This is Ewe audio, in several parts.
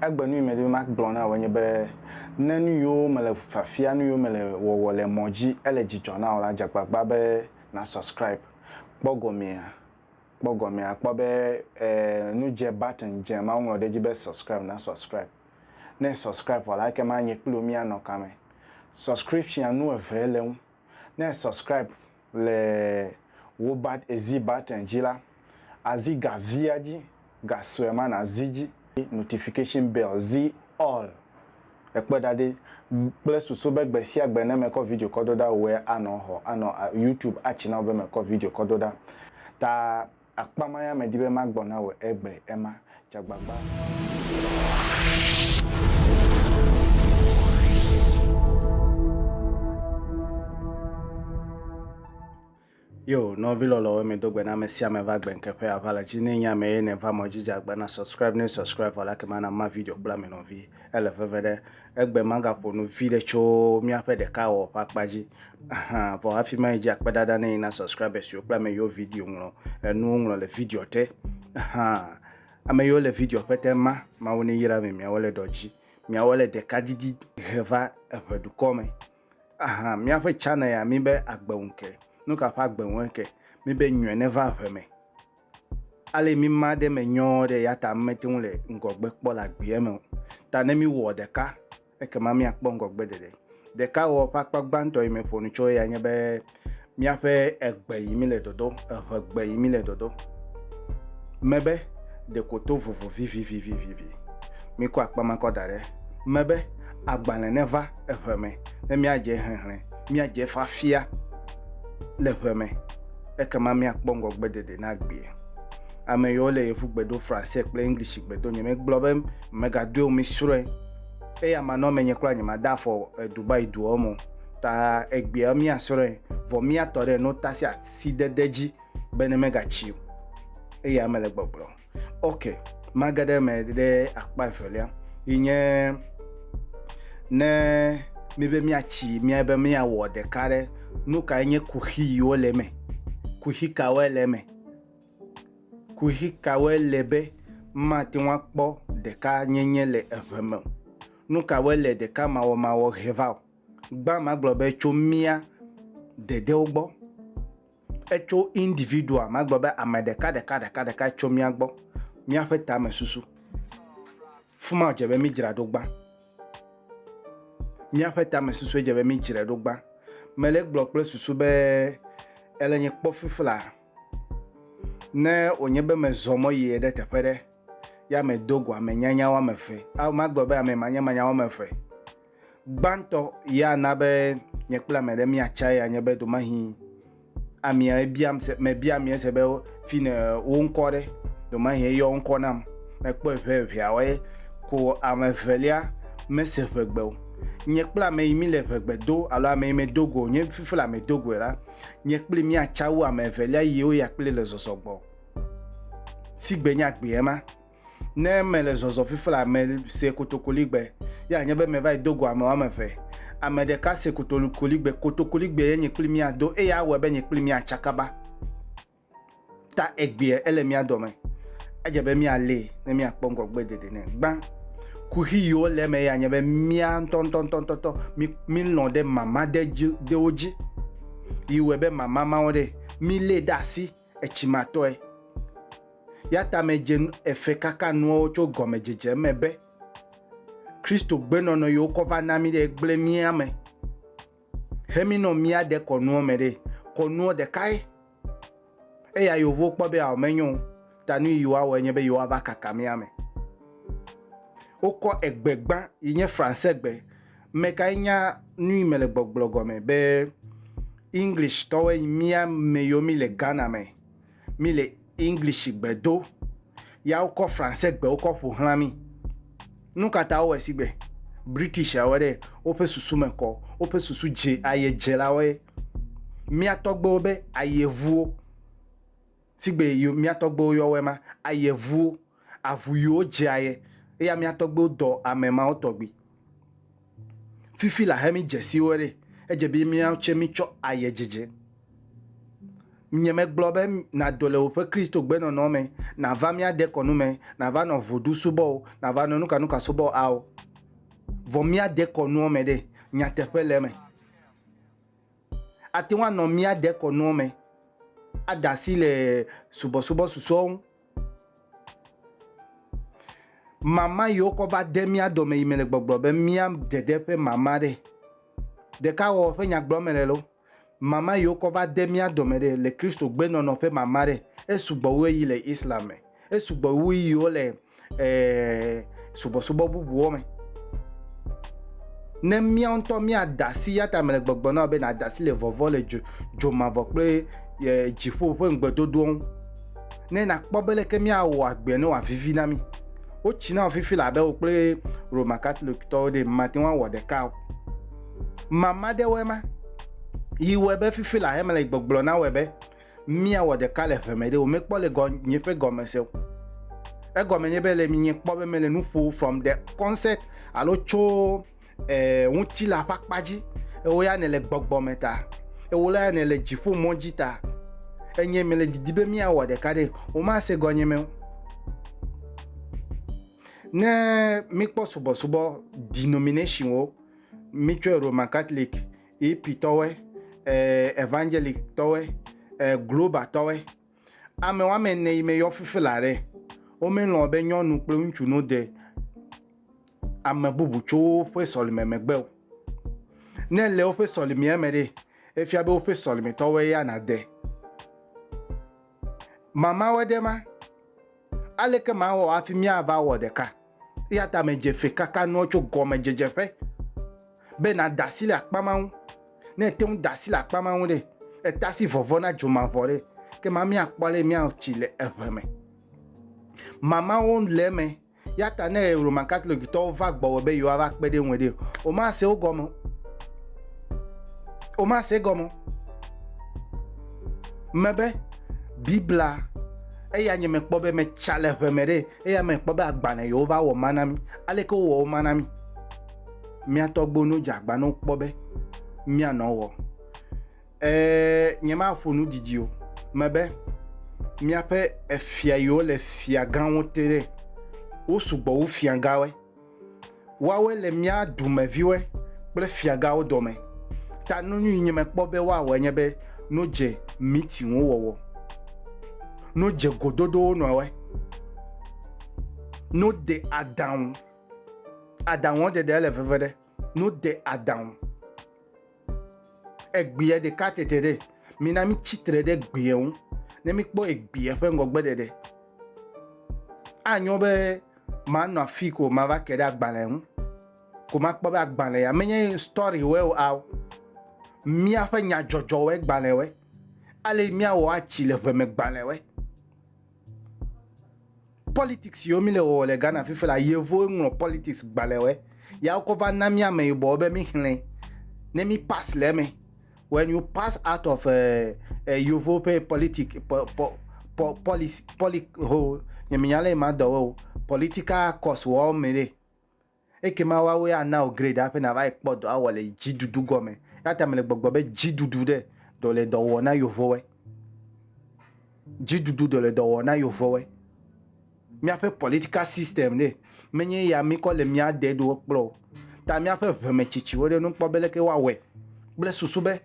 Egbe nu yi medi be magblɔ na wò enye be, ne nu yiwo mele fiafia, nu yiwo mele wɔwɔ le mɔ dzi ele dzidzɔ na wò la, dze agbagba be na subscribe. Kpɔ gɔmea, kpɔ gɔmea, kpɔ be e nu dze button dze ma woŋlɔ ɖe edzi be subscribe na subscribe. Ne e subscribe vɔ la ekema nye kpli wò mía nɔ kame. Subscription nu eve le eŋu. Ne e subscribe. le Wobat Ezi Button dzi la, azi ga via dzi, ga sue ma nazi dzi. Notification Bell, zi All, ekpe ɖa ɖi kple susu be gbe sia gbe ne mekɔ video kɔ do ɖa, wòe anɔ xɔ, anɔ YouTube atsi na wò be mekɔ video kɔ do ɖa. Ta. Akpa ma ya medi be magbɔ na wò egbe ema. Dze Yo, nɔvi lɔlɔwo mi do gbe na ame sia ame va gbe nke ƒe ava le dzi ne nye ame ye ne va mɔ dzi dze agba na subscribe ne subscribe vɔ la ke ma na ma video kple ame nɔvi ele veve ɖe Egbe magaƒo nu viɖe tso míaƒe ɖekawɔwɔ ƒe akpa dzi hã o. Vɔ hafi mayi dzi, akpedada ne yi na subscribers siwo kple ame yiwo video ŋlɔ enuwo ŋlɔ le video te hã. Ame yiwo le video ƒe te ma, Mawu neyra mi, miawo le ɖɔ dzi, miawo le ɖeka didi he va eŋe dukɔ me. Aha, míaƒe channel ya mi be agbe ŋu ke. Nu ka ƒe agbe ŋue ke? Mi be nyɔe neva eŋe me. Ale mi ma ɖe me nyɔɔ ɖe ya ta mete ŋu le ŋgɔgbe kpɔ le agbeɛ me o. Ta ne mi wɔ ɖeka, ekema mi akpɔ ŋgɔgbe ɖeɖe. Ɖeka wɔ ƒe akpa gbãtɔ yi me ƒo nu tso eya nye be miaƒe egbe yi mi le dɔdɔ, eŋe gbe yi mi le dɔdɔ me be ɖeko to vovo vivivivivivi. Mi kɔ akpa ma kɔ da ɖe me be agbalẽ ne va eŋe me ne mia dze hehlẽ, mia dze eƒe afia le eŋe me. ekema míakpɔ ŋgɔgbedede na agbee. Ame yiwo le Yevugbe do Fransɛ kple English gbe do nye megblɔ be megadoe o, misrɔ̃e. Eya manɔme nye kura nyemada afɔ Dubai duɔ mo ta egbea míasrɔ̃e vɔ míatɔ ɖe notasiasidede dzi bene megatsi o. Eya mele gbɔgblɔm. ok mage ɖe eme ɖe akpa evelia yi nye ne míbe míatsi mía be míawɔ ɖeka ɖe nu kae nye kuxi yiwo le eme kuxi kawoe le eme kuxi kawoe le be mate ŋu akpɔ ɖeka nyenye le eve me o nu kawoe le ɖeka mawɔmawɔ he va o gbã magblɔ be tso mía dedewo gbɔ. Etso individual, magblɔ be ame ɖeka ɖeka ɖeka ɖeka tso mía gbɔ, míaƒe tame susu. Fima dze be mídzra ɖo gbã. Míaƒe tame susue dze be mídzra ɖo gbã. Mele gblɔ kple susu be ele nye kpɔ fifla. Ne wònye be mezɔ mɔ yie ɖe teƒe ɖe ya medo go ame nyanya woame eve. Ao magblɔ be ame manyamanya woame eve. Gbãtɔ ye ana be nye kple ame ɖe míatsa ya nye be domahi amea ebiam se mebia amea se be fine wo ŋkɔ ɖe domahi eyɔ ŋkɔ nam mekpɔe ʋɛ ʋɛawoe ko ame evelia mese ʋegbe o nye kple ame yi mi le ʋegbe do alo ame yi medo go nye fifi le ame do goe la nye kple míatsa wu ame evelia yiwo ya kple le zɔzɔ gbɔ si gbe nya gbeɛ ma Ne mele zɔzɔ fifi la, mese kotokoligbe. Ye anye be meva yi do go ame woame eve. Ame ɖeka se kotolikoligbe. Kotokoligbee ye nye kpli mia do eye awɔe be nye kpli mia tsa kaba. Ta egbea ele mia dɔme. Edze be mia lee ne mia kpɔ ŋgɔgbe dede nɛ. Gbã kuxi yiwo le eme ye anye be mia ŋtɔŋtɔŋtɔŋtɔ mi mi lɔ̃ ɖe mama ɖe dzi ɖewo dzi. Yi wɔe be mama mawo ɖe mi lee ɖe asi. etsimatɔe. Yatamedzenu eve kaka nuawo tso gɔmedzedze me be Kristo gbenɔnɔ yi wokɔ va na mí ɖe gblẽ mía me hemi nɔ míaɖe kɔnuɔ me ɖe. Kɔnuɔ ɖekae. Eya yewovo kpɔ be ao menyo o, ta nu yi yewoawɔe nye be yewoava kaka mía me. Wokɔ egbe gbã yi nye Fransegbe Ame kae nya nuyi mele gbɔgblɔ gɔme be English tɔwoe nyi mía meyiwo mi le Ghana me mi le English gbe do ya wokɔ Français gbewo kɔ ƒoxlã mi? Nukata wowɔe si gbe British awɔe ɖe woƒe susu me kɔ woƒe susu dze ayedzelawoe mía tɔgbewo be ayevuwo. sigbe yo mia tɔgbewo yɔ wɛ ma, ayɛ vuwo, avu yiwo dze ayɛ eya mia tɔgbewo dɔ amɛ mawo tɔgbi. Fifi la hɛ mi djesi wɛ ɖe, edje bi miawo tse mi tsɔ ayɛ djedje. Nye me gblɔ be na do le woƒe Kristo gbe nɔnɔ me, na va mia dekɔ nu me, na va nɔ vodu subɔ o, na va nɔ nuka nuka subɔ ao. Vɔ mia dekɔ nuɔ me ɖe, nyateƒe le eme. ate ŋu anɔ mía dekɔnua me, ada asi le subɔsubɔ susɔewo ŋu. Mama yi wokɔ va de mía dɔme yi me le gbɔgblɔ be mía dede ƒe mama ɖe. Ɖeka wɔ ƒe nya gblɔm mele lo. Mama yi wokɔ va de mía dɔme ɖe le Kristo gbenɔnɔ ƒe mama ɖe. Esugbɔ wu eyi le Islam me. Esugbɔ wu yi wole eh, subɔsubɔ bubuwo me. Ne mía ŋutɔ mía dasi, ya ta mele gbɔgblɔ na be na dasi le vɔvɔ le dzo, dzo mavɔ kple eh, dziƒo ƒe ŋugbedodoa ŋu. Ne na kpɔ be leke mía wɔ agbe ne wòa vivi na mi. Wo tsi na fifi la be wo kple Roma Catholic tɔwo ɖe mate ŋu awɔ ɖeka o. Mama ɖe wɔe ma. Yi wɔe be fifi la he mele gbɔgblɔ na wɔe be Mia wɔ ɖeka le ʋe me ɖe o me kpɔ le gɔ nye ƒe gɔme se o. Egɔ me nye be le mi nye kpɔ be me le nuƒo from the concept alo tso eh, ŋuti la ƒa kpa dzi. Ewo ya ne le gbɔgbɔ me ta. Ewo la ya ne le dzi ƒo mɔ dzi ta. Enye me le didi be mia wɔ ɖeka ɖe o ma se gɔ nye me o. Ne mi kpɔ subɔsubɔ denomination wo, mi tso Roman Catholic, EP tɔwɔe, eh, Evangelic tɔwɔe, eh, Global tɔwɔe. Ame wɔme ene yi me yɔ fifi la ɖe. Womelɔ̃ be nyɔnu kple ŋutsu no de ame bubu tso woƒe sɔlime megbe o. Ne le woƒe sɔlimea me ɖe, efia be woƒe sɔlimetɔwɔe ya nade. Mamawo ɖe ma. Aleke mawɔ hafi míava wɔ ɖeka? Eya ta medze fe kaka nuwo tso gɔmedzedze ƒe be nàda asi le akpa ma ŋu. Ne ète ŋu da asi le akpa ma ŋu ɖe, ètasi vɔvɔ̃ na dzomavɔ ɖe, ke ma míakpɔ ale míaho tsi le eŋe me. Mamawo le eme, eya ta ne Roman Katolikitɔwo va gbɔwò be yewoava kpe ɖe ŋu ɖe, womase wo gɔme o. Womase egɔme o. Mebe Biblia Eya nye mekpɔ be metsa le ʋe me ɖe, eya mekpɔ be agbalẽ yewo va wɔ ma na mi. Aleke wowɔ wo ma na mi? Mia tɔgbo no dze agba no kpɔ be mia nɔ wɔ. Ee, nye ma ƒo nu didi o. Me be miaƒe efia yewo le fia gãwo te ɖe, wo sugbɔ wu fia gãwe. Woawoe le mía dumeviwoe kple fiagãwo dɔme. Ta nu nyui nye mekpɔ be woawɔe nye be no dze meetingwo wɔwɔ, no dze gododowo nɔwɔe, no de adaŋu, adaŋuɔ ɖeɖe ele veve ɖe, no de adaŋu. Egbea ɖeka tete ɖe. Mina mitsi tre ɖe egbea ŋu ne mikpɔ egbea ƒe ŋgɔgbeɖeɖe. Anyo be manɔ afi ko mava ke ɖe agbalẽ ŋu ko makpɔ be agbalẽ ya menye story wɔe o ao. Míaƒe nyadzɔdzɔwɔe gbalẽ wɔe. Ale miawɔ atsi le ʋeme gbalẽ wɔe. politics yiwo mi le wɔwɔ le Ghana fifi la yevuwo ŋlɔ politics gbalẽwɔe ya wokɔ va na mi ameyibɔwo be mi xlẽ ne mi pass le eme when you pass out of uh, uh, yevuwo ƒe politic po, po, po, policy poli ho nyeminya le ma dɔwo political course wɔwo me ɖe Ekema woawoe ana wò grade hafi nàva yi kpɔ dɔ awɔ le dziɖuɖu gɔme. Eya ta mele gbɔgblɔm be dziɖuɖu ɖe dɔ le dɔ wɔ na yevowoe. Dziɖuɖu dɔ le dɔ wɔ na yevowoe. Míaƒe political system ɖe menye ya míkɔ le mía deɖowo kplɔ o. Ta míaƒe ʋemetsitsiwo ɖe nu kpɔ be leke woawɔe kple susu be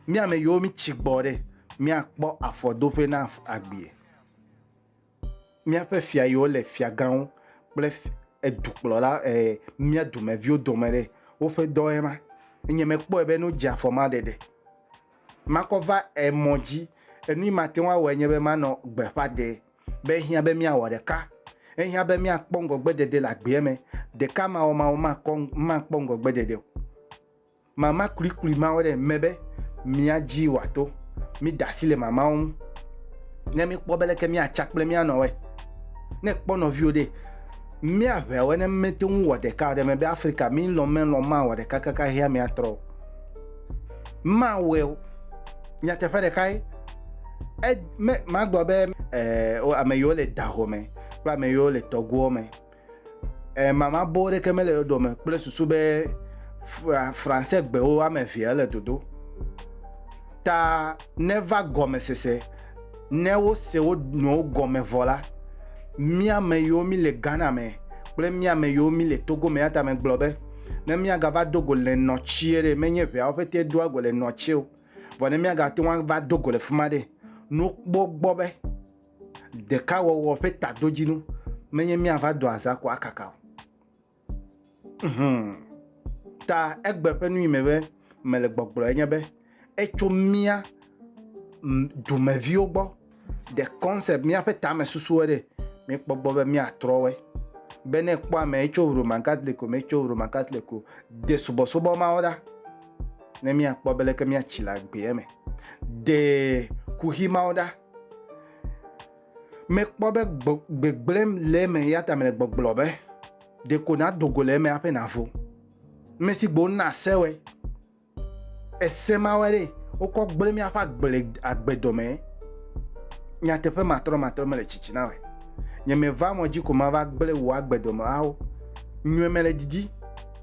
mí ame yiwo mítsi gbɔ ɖe míakpɔ afɔdoƒe na agbee. míaƒe fia yiwo le fiagãwo kple edukplɔla e mía dumeviwo dome ɖe woƒe dɔe ma. Enye mekpɔe be nu dze afɔ ma ɖeɖe. Makɔ va emɔ dzi. Enu mate ŋu awɔe nye be manɔ gbeƒã de be ehiã be míawɔ ɖeka. Ehiã be míakpɔ ŋgɔgbe dede le agbea me. Ɖeka mawɔmawɔ makɔ makpɔ ŋgɔgbe dede o. Mama klikli mawo ɖe eme be mía dzi wòato. Mida asi le mamawo ŋu ne míkpɔ be leke míatsa kple mía nɔwoe. Ne èkpɔ nɔviwò ɖe, mía ʋeawoe ne míete ŋu wɔ ɖeka o. Ɖe mebe Afrika mílɔ̃ melɔ̃ mawɔ ɖeka kaka hea míatrɔ o. Mawɔe o. Nyateƒe ɖekae. E, me, magblɔ be e, ame yiwo le dahome kple ame yiwo le tɔgoɔ me. mama boo ɖeke mele ɖoɖo me kple susu be fransɛ gbewo ame evea ele dodo ta neva gɔmesese ne wose wo nɔwo gɔme vɔ la míame yiwo mi le Ghana me kple míame yiwo mi le Togo me ya ta megblɔ be ne míagava do go le nɔtie ɖe menye ʋeawo ƒete doa go le nɔtie o vɔ ne míagate ŋu ava do go le fi ma ɖe nukpɔ gbɔ be. Ɖekawɔwɔ ƒe tadodzinu menye míava do azã ko akaka o. Hum. Ta egbe ƒe nu yi me be mele gbɔgblɔ enye be etso mía dumeviwo gbɔ. The concept míaƒe tame susuwo ɖe míekpɔ gbɔ be míatrɔ wɔe. Be ne kpɔ ame etso Roman Catholic o, metso Roman Catholic o, de subɔsubɔ mawo ɖa ne míakpɔ be leke míatsi le agbea me. De kuxi mawo ɖa. Mekpɔ be gbegblẽm le eme ya ta mele gbɔgblɔ be ɖeko nado go le eme aƒe navo. Ame si gbo na sewɔe. Ese mawɔe ɖe wokɔ gblẽ míaƒe agble agbe dɔme. Nyateƒe matrɔmatrɔ mele tsitsi na wɔe. Nye meva mɔ dzi ko mava gblẽ wò agbe dɔme awo. Nyɔe mele didi.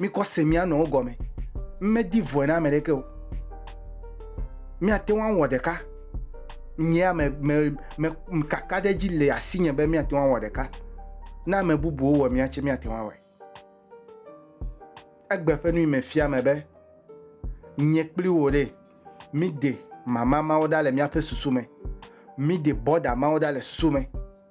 Mikɔ se mia nɔwo gɔme. Medi vɔe na ame ɖeke o. Míate ŋu awɔ ɖeka. Nye ya me me me kaka ɖe edzi le asinye be míate ŋu awɔ ɖeka. Ne ame bubuwo wɔ mía tse míate ŋu awɔe. Egbe ƒe nui me fia me be nye kpli wò ɖe míde mama mawo ɖa le míaƒe susu me. Míde bɔda mawo ɖa le susu me.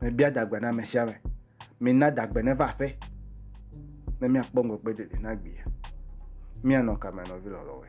Mebia dagbe na ame sia ame. Mina dagbe neva aƒe ne míakpɔ ŋgɔgbe dede na gbea. Míanɔ kame nɔvi lɔlɔ̃woe.